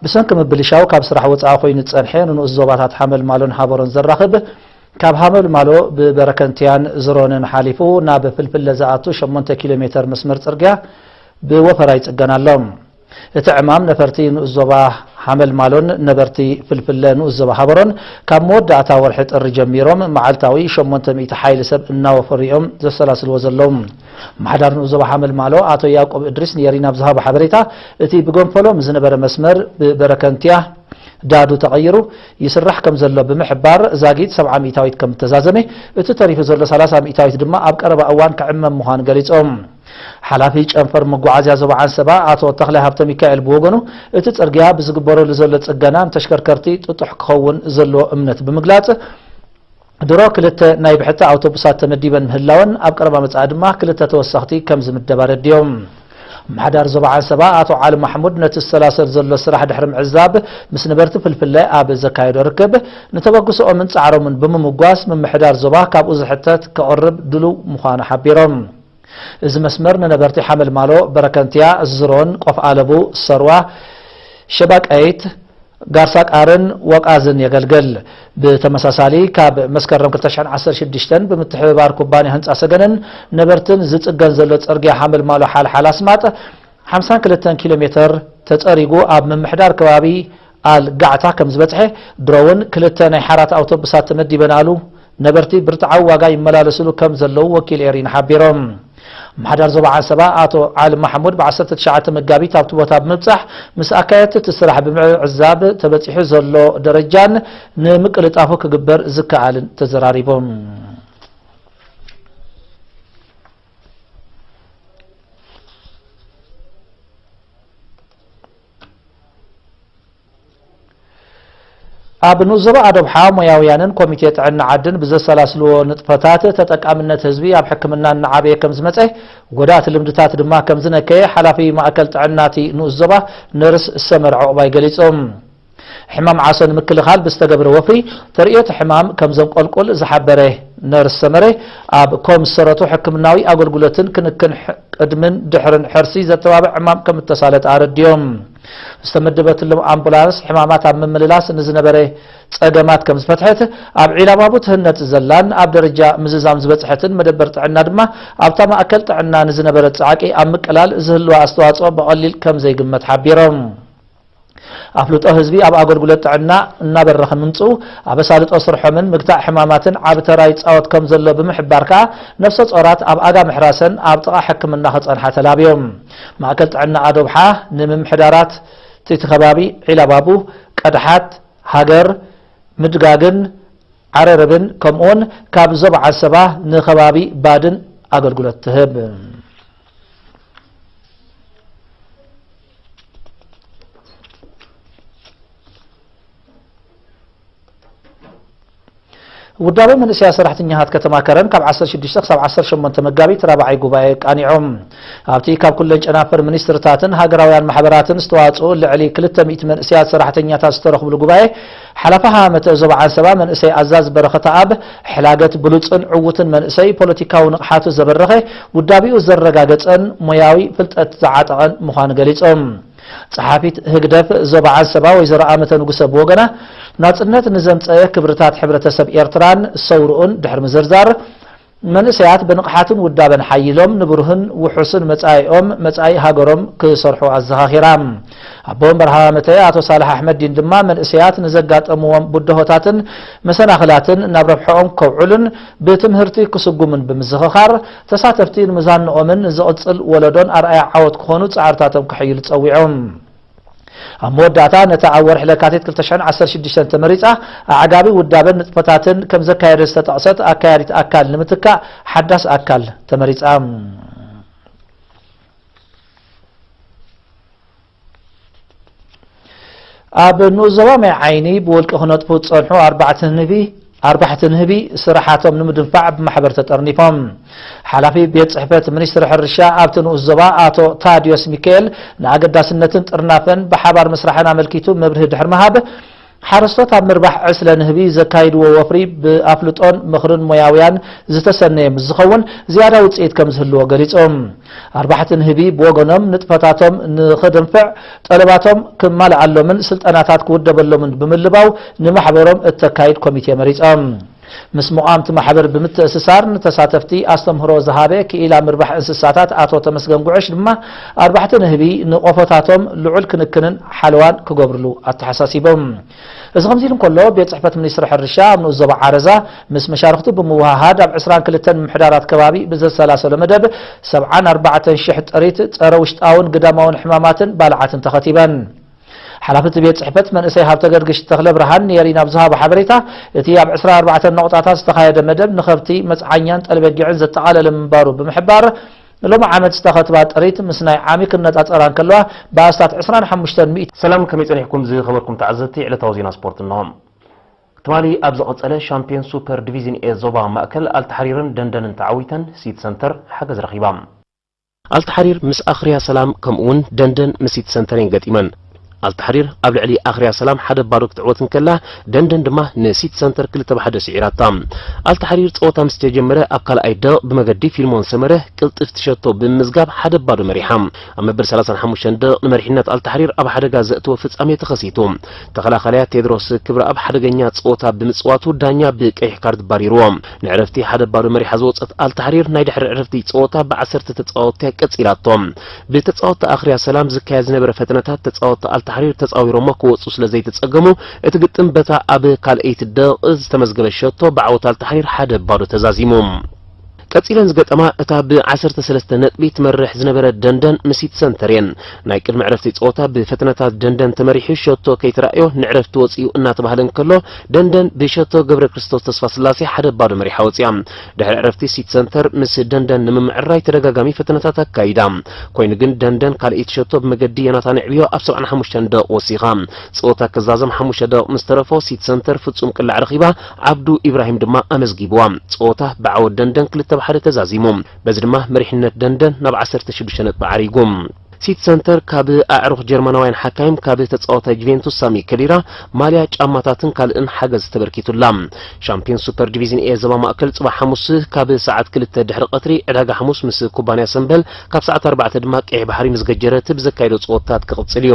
ብሰንኪ ምብልሻው ካብ ስራሕ ወፃኢ ኮይኑ ዝፀንሐ ንንኡስ ዞባታት ሓመልማሎን ሃበሮን ዘራኽብ ካብ ሃመልማሎ ብበረከንቲያን ዝሮንን ሓሊፉ ናብ ፍልፍለ ዝኣቱ 8 ኪሎ ሜተር መስመር ፅርግያ ብወፈራ ይፅገን ኣሎ። እቲ ዕማም ነፈርቲ ንኡስ ዞባ ሓመልማሎን ነበርቲ ፍልፍለ ንኡስ ዞባ ሃበሮን ካብ መወዳእታ ወርሒ ጥሪ ጀሚሮም መዓልታዊ 800 ሓይሊ ሰብ እናወፈሩ እዮም ዘሰላስልዎ ዘለዉ። ምሓዳር ንኡስ ዞባ ሓመልማሎ ኣቶ ያቆብ እድሪስ ንኤሪና ኣብ ዝሃቦ ሓበሬታ፣ እቲ ብገንፈሎ ምስ ዝነበረ መስመር ብበረከንቲያ ዳዱ ተቐይሩ ይስራሕ ከም ዘሎ ብምሕባር፣ ዛጊት ሰብዓ ሚእታዊት ከም እተዛዘመ፣ እቲ ተሪፉ ዘሎ ሰላሳ ሚእታዊት ድማ ኣብ ቀረባ እዋን ክዕመም ምዃኑ ገሊጾም። ሓላፊ ጨንፈር መጓዓዝያ ዞባ ዓንሰባ ኣቶ ተኽላይ ሃብተሚካኤል ብወገኑ፣ እቲ ጽርግያ ብዝግበረሉ ዘሎ ጽገና ንተሽከርከርቲ ጥጡሕ ክኸውን ዘለዎ እምነት ብምግላጽ፣ ድሮ ክልተ ናይ ብሕቲ ኣውቶቡሳት ተመዲበን ምህላወን፣ ኣብ ቀረባ መጻኢ ድማ ክልተ ተወሰኽቲ ከም ዝምደባ ኣረዲኦም። ኣመሓዳሪ ዞባ ዓንሰባ ኣቶ ዓሊ ማሕሙድ ነቲ ዝሰላሰል ዘሎ ስራሕ ድሕሪ ምዕዛብ ምስ ነበርቲ ፍልፍለ ኣብ ዘካየዶ ርክብ፣ ንተበግሶኦምን ጻዕሮምን ብምምጓስ ምምሕዳር ዞባ ካብኡ ዝሕተት ከቕርብ ድሉው ምዃኑ ሓቢሮም። እዚ መስመር ንነበርቲ ሓመልማሎ፣ በረከንትያ፣ ዝሮን፣ ቆፍ ኣለቡ፣ ሰርዋ፣ ሸባቀይት፣ ጋርሳ ቃርን ወቃዝን የገልግል። ብተመሳሳሊ ካብ መስከረም ክልተ ሽሕን ዓሰርተ ሽዱሽተን ብምትሕብባር ኩባንያ ህንፃ ሰገንን ነበርትን ዝፅገን ዘሎ ፅርግያ ሓመልማሎ-ሓልሓል-ኣስማጥ ሓምሳን ክልተን ኪሎ ሜተር ተፀሪጉ ኣብ ምምሕዳር ከባቢ ኣል ጋዕታ ከም ዝበጽሐ ድሮ'ውን ክልተ ናይ ሓራት ኣውቶቡሳት ተመዲበናሉ፣ ነበርቲ ብርትዓዊ ዋጋ ይመላለሱሉ ከም ዘለዉ ወኪል ኤሪና ሓቢሩ። ኣመሓዳሪ ዞባ ዓንሰባ ኣቶ ዓሊ ማሕሙድ ብ ዓሰርተ ትሽዓተ መጋቢት ኣብቲ ቦታ ብምብጻሕ ምስ ኣካየድቲ እቲ ስራሕ ብምዕዛብ ተበጺሑ ዘሎ ደረጃን ንምቅልጣፉ ክግበር ዝከኣልን ተዘራሪቡ። ኣብ ንኡስ ዞባ ኣዶብሓ ሞያውያንን ኮሚቴ ጥዕና ዓድን ብዘሰላስልዎ ንጥፈታት ተጠቃምነት ህዝቢ ኣብ ሕክምና እናዓበየ ከምዝመፀ ጎዳእቲ ልምድታት ድማ ከምዝነከየ ሓላፊ ማእከል ጥዕና እቲ ንኡስ ዞባ ነርስ ሰመር ዑቕባይ ገሊፆም። ሕማም ዓሶ ንምክልኻል ብዝተገብረ ወፍሪ ተርእዮቲ ሕማም ከምዘንቆልቁል ዝሓበረ ነርስ ሰመረ፣ ኣብ ኮም ዝሰረቱ ሕክምናዊ ኣገልግሎትን ክንክን ቅድምን ድሕርን ሕርሲ ዘተባብዕ ዕማም ከም እተሳለጠ ኣረዲኦም። ዝተመደበትሎም ኣምቡላንስ ሕማማት ኣብ ምምልላስ ንዝነበረ ጸገማት ከም ዝፈትሐት፣ ኣብ ዒላባቡ ትህነጽ ዘላን ኣብ ደረጃ ምዝዛም ዝበጽሐትን መደበር ጥዕና ድማ ኣብታ ማእከል ጥዕና ንዝነበረ ጻዕቂ ኣብ ምቅላል ዝህልዋ ኣስተዋጽኦ ብቐሊል ከም ዘይግመት ሓቢሮም። ኣፍልጦ ህዝቢ ኣብ ኣገልግሎት ጥዕና እናበረኸ ምምፅኡ ኣብ ኣሳልጦ ስርሖምን ምግታእ ሕማማትን ዓቢ ተራ ይፃወት ከምዘሎ ብምሕባር ከዓ ነፍሰ ፆራት ኣብ ኣጋ ምሕራሰን ኣብ ጥቓ ሕክምና ክፀንሓ ተላብዮም። ማእከል ጥዕና ኣዶብሓ ንምምሕዳራት እቲ ከባቢ ዒላባቡ፣ ቀድሓት፣ ሃገር፣ ምድጋግን ዓረርብን ከምኡውን ካብ ዞባ ዓሰባ ንከባቢ ባድን ኣገልግሎት ትህብ። ውዳበ መንእሰያ ሰራሕተኛታት ከተማ ከረን ካብ 16 ክሳብ 18 መጋቢት ራብዓይ ጉባኤ ቃኒዖም ኣብቲ ካብ ኩለን ጨናፍር ሚኒስትርታትን ሃገራውያን ማሕበራትን ዝተዋፅኡ ልዕሊ 200 መንእሰያት ሰራሕተኛታት ዝተረኽብሉ ጉባኤ ሓላፊ ሃመተ ዞባ ዓንሰባ መንእሰይ ኣዛዚ በረኸተኣብ፣ ሕላገት ብሉጽን ዕዉትን መንእሰይ፣ ፖለቲካዊ ንቕሓቱ ዘበረኸ፣ ውዳቤኡ ዘረጋገጸን ሞያዊ ፍልጠት ዝዓጠቐን ምዃኑ ገሊጾም። ጸሓፊት ህግደፍ ዞባ ዓንሰባ ወይዘሮ ኣመተ ንጉሰ ብወገና፣ ናጽነት ንዘምጸኤ ክብርታት ሕብረተሰብ ኤርትራን ሰውርኡን ድሕሪ ምዝርዛር፣ መንእሰያት ብንቕሓትን ውዳበን ሓይሎም ንብሩህን ውሑስን መጻኢኦም፣ መጻኢ ሃገሮም፣ ክሰርሑ ኣዘኻኺራ። ኣቦ ወንበር ሃማመተኤ ኣቶ ሳልሕ ኣሕመዲን ድማ መንእሰያት ንዘጋጠምዎም ብድሆታትን መሰናኽላትን ናብ ረብሐኦም ከውዕሉን ብትምህርቲ ክስጉሙን ብምዝኽኻር፣ ተሳተፍቲ ንመዛንኦምን ንዝቕጽል ወለዶን ኣርኣያ ዓወት ክኾኑ ጻዕርታቶም ከሐይሉ ጸዊዖም። ኣብ መወዳእታ ነታ ኣብ ወርሒ ለካቲት ክልተ ሽሕን ዓሰርተ ሽዱሽተን ተመሪጻ ኣዕጋቢ ውዳበን ንጥፈታትን ከም ዘካየደት ዝተጠቕሰት ኣካያዲት ኣካል ንምትካእ ሓዳስ ኣካል ተመሪጻ። ኣብ ንኡስ ዞባ ማይ ዓይኒ ብውልቂ ክነጥፉ ዝጸንሑ ኣርባዕተ ንህቢ ኣርባሕቲ ንህቢ ስራሓቶም ንምድንፋዕ ብማሕበር ተጠርኒፎም። ሓላፊ ቤት ፅሕፈት ሚኒስትሪ ሕርሻ ኣብቲ ንኡስ ዞባ ኣቶ ታድዮስ ሚካኤል ንኣገዳስነትን ጥርናፈን ብሓባር ምስራሕን ኣመልኪቱ መብርሂ ድሕሪ ምሃብ፣ ሓረስቶት ኣብ ምርባሕ ዕስለ ንህቢ ዘካይድዎ ወፍሪ ብኣፍልጦን ምኽርን ሞያውያን ዝተሰነየ ምስ ዝኸውን ዝያዳ ውፅኢት ከምዝህልዎ ገሊፁ። ኣርባሕቲ ንህቢ ብወገኖም ንጥፈታቶም ንኽድንፍዕ ጠለባቶም ክማልኣሎምን ስልጠናታት ክውደበሎምን ብምልባው ንማሕበሮም እተካይድ ኮሚቴ መሪጸም። ምስ መቋምቲ ማሕበር ብምትእስሳር ንተሳተፍቲ ኣስተምህሮ ዝሃበ ክኢላ ምርባሕ እንስሳታት ኣቶ ተመስገን ጉዕሽ ድማ ኣርባሕቲ ንህቢ ንቆፎታቶም ልዑል ክንክንን ሓለዋን ክገብርሉ ኣተሓሳሲቦም። እዚ ከምዚ ኢሉ እንከሎ፣ ቤት ጽሕፈት ሚኒስትሪ ሕርሻ ኣብ ንኡስ ዞባ ዓረዛ ምስ መሻርኽቱ ብምውህሃድ ኣብ ዕስራን ክልተን ምምሕዳራት ከባቢ ብዘሰላሰሎ መደብ ሰብዓን ኣርባዕተን ሽሕ ጥሪት ጸረ ውሽጣውን ግዳማውን ሕማማትን ባልዓትን ተኸቲበን። ሓላፊ እቲ ቤት ጽሕፈት መንእሰይ ሃብተገርግሽ ተኽለብርሃን ንኤሪና ኣብ ዝሃቦ ሓበሬታ፣ እቲ ኣብ ዕስራ ኣርባዕተ ነቑጣታት ዝተኻየደ መደብ ንኸብቲ፣ መጽዓኛን ጠልበጊዕን ዘጠቓለለ ምንባሩ ብምሕባር፣ ንሎሚ ዓመት ዝተኸትባ ጥሪት ምስ ናይ ዓሚ ክነጻጸራ እንከለዋ ብኣስታት ዕስራን ሓሙሽተን ሚእቲ። ሰላም ከመይ ጸኒሕኩም ዝኸበርኩም ተዓዘብቲ ዕለታዊ ዜና ስፖርት እንሆ። ትማሊ ኣብ ዝቐጸለ ሻምፕዮን ሱፐር ዲቪዝን ኤ ዞባ ማእከል ኣልታሕሪርን ደንደንን ተዓዊተን ሲቲ ሰንተር ሓገዝ ረኺባ። ኣልታሕሪር ምስ ኣኽርያ ሰላም ከምኡ'ውን ደንደን ምስ ሲቲ ሰንተር እየን ገጢመን። ኣልታሕሪር ኣብ ልዕሊ ኣኽርያ ሰላም ሓደ ባዶ ክትዕወት እንከላ፣ ደንደን ድማ ንሲቲ ሰንተር ክልተ ብ ሓደ ስዒራታ። ኣልታሕሪር ጸወታ ምስ ተጀመረ ኣብ ካልኣይ ደቕ ብመገዲ ፊልሞን ሰመረ ቅልጥፍቲ ሸቶ ብምምዝጋብ ሓደ ብ ባዶ መሪሓ። ኣብ መበል ሰላሳን ሓሙሽተን ደቕ ንመሪሕነት ኣልታሕሪር ኣብ ሓደጋ ዘእተወ ፍጻሜ ተኸሲቱ። ተኸላኻሊኣ ቴድሮስ ክብረኣብ ሓደገኛ ጸወታ ብምጽዋቱ ዳኛ ብቀይሕ ካርድ ባሪርዎ። ንዕረፍቲ ሓደ ብ ባዶ መሪሓ ዝወጸት ኣልታሕሪር ናይ ድሕሪ ዕረፍቲ ጸወታ ብ ዓሰርተ ተጻወትቲ'ያ ቀጺላቶ። ብተጻወትቲ ኣኽርያ ሰላም ዝካየድ ዝነበረ ፈተነታት ተጻወትቲ ኣልታሕሪር ተጻዊሮሞ ክወጹ ስለ ዘይተጸገሙ እቲ ግጥም በታ ኣብ ካልኣይቲ ደቕቕ ዝተመዝገበት ሸቶ ብዓወት ኣልታሕሪር ሓደ ባዶ ተዛዚሙ። ቀጺለን ዝገጠማ እታ ብ ዓሰርተ ሰለስተ ነጥቢ ትመርሕ ዝነበረት ደንደን ምሲት ሰንተር እየን። ናይ ቅድሚ ዕረፍቲ ጸወታ ብፈተነታት ደንደን ተመሪሑ ሸቶ ከይተራእዮ ንዕረፍቲ ወጺኡ እናተባህለ እንከሎ ደንደን ብሸቶ ገብረክርስቶስ ተስፋስላሴ ሓደ ባዶ መሪሓ ወጺኣ። ድሕሪ ዕረፍቲ ሲቲ ሰንተር ምስ ደንደን ንምምዕርራይ ተደጋጋሚ ፈተነታት ኣካይዳ። ኮይኑ ግን ደንደን ካልኣይቲ ሸቶ ብመገዲ ዮናታን ኣዕብዮ ኣብ ሰብዓን ሓሙሽተን ደቕ ወሲኻ። ጸወታ ክዛዘም ሓሙሽተ ደቕ ምስ ተረፎ ሲቲ ሰንተር ፍጹም ቅላዕ ረኺባ፣ ዓብዱ ኢብራሂም ድማ ኣመዝጊቡዋ። ጸወታ ብዓወት ደንደን ክልተ ብ ሓደ ተዛዚሙ። በዚ ድማ መሪሕነት ደንደን ናብ ዓሰርተ ሽዱሽተ ነጥቢ ዓሪጉ። ሲቲ ሰንተር ካብ ኣዕሩኽ ጀርመናውያን ሓካይም ካብ ተጻዋታይ ጁቬንቱስ ሳሚ ከዲራ ማልያ፣ ጫማታትን ካልእን ሓገዝ ተበርኪቱላ። ሻምፕዮንስ ሱፐር ዲቪዝን ኤ ዞባ ማእከል ጽባሕ ሓሙስ ካብ ሰዓት ክልተ ድሕሪ ቀትሪ ዕዳጋ ሓሙስ ምስ ኩባንያ ሰምበል ካብ ሰዓት ኣርባዕተ ድማ ቀይሕ ባሕሪ ምስ ገጀረት ብዘካይዶ ጸወታት ክቕጽል እዩ።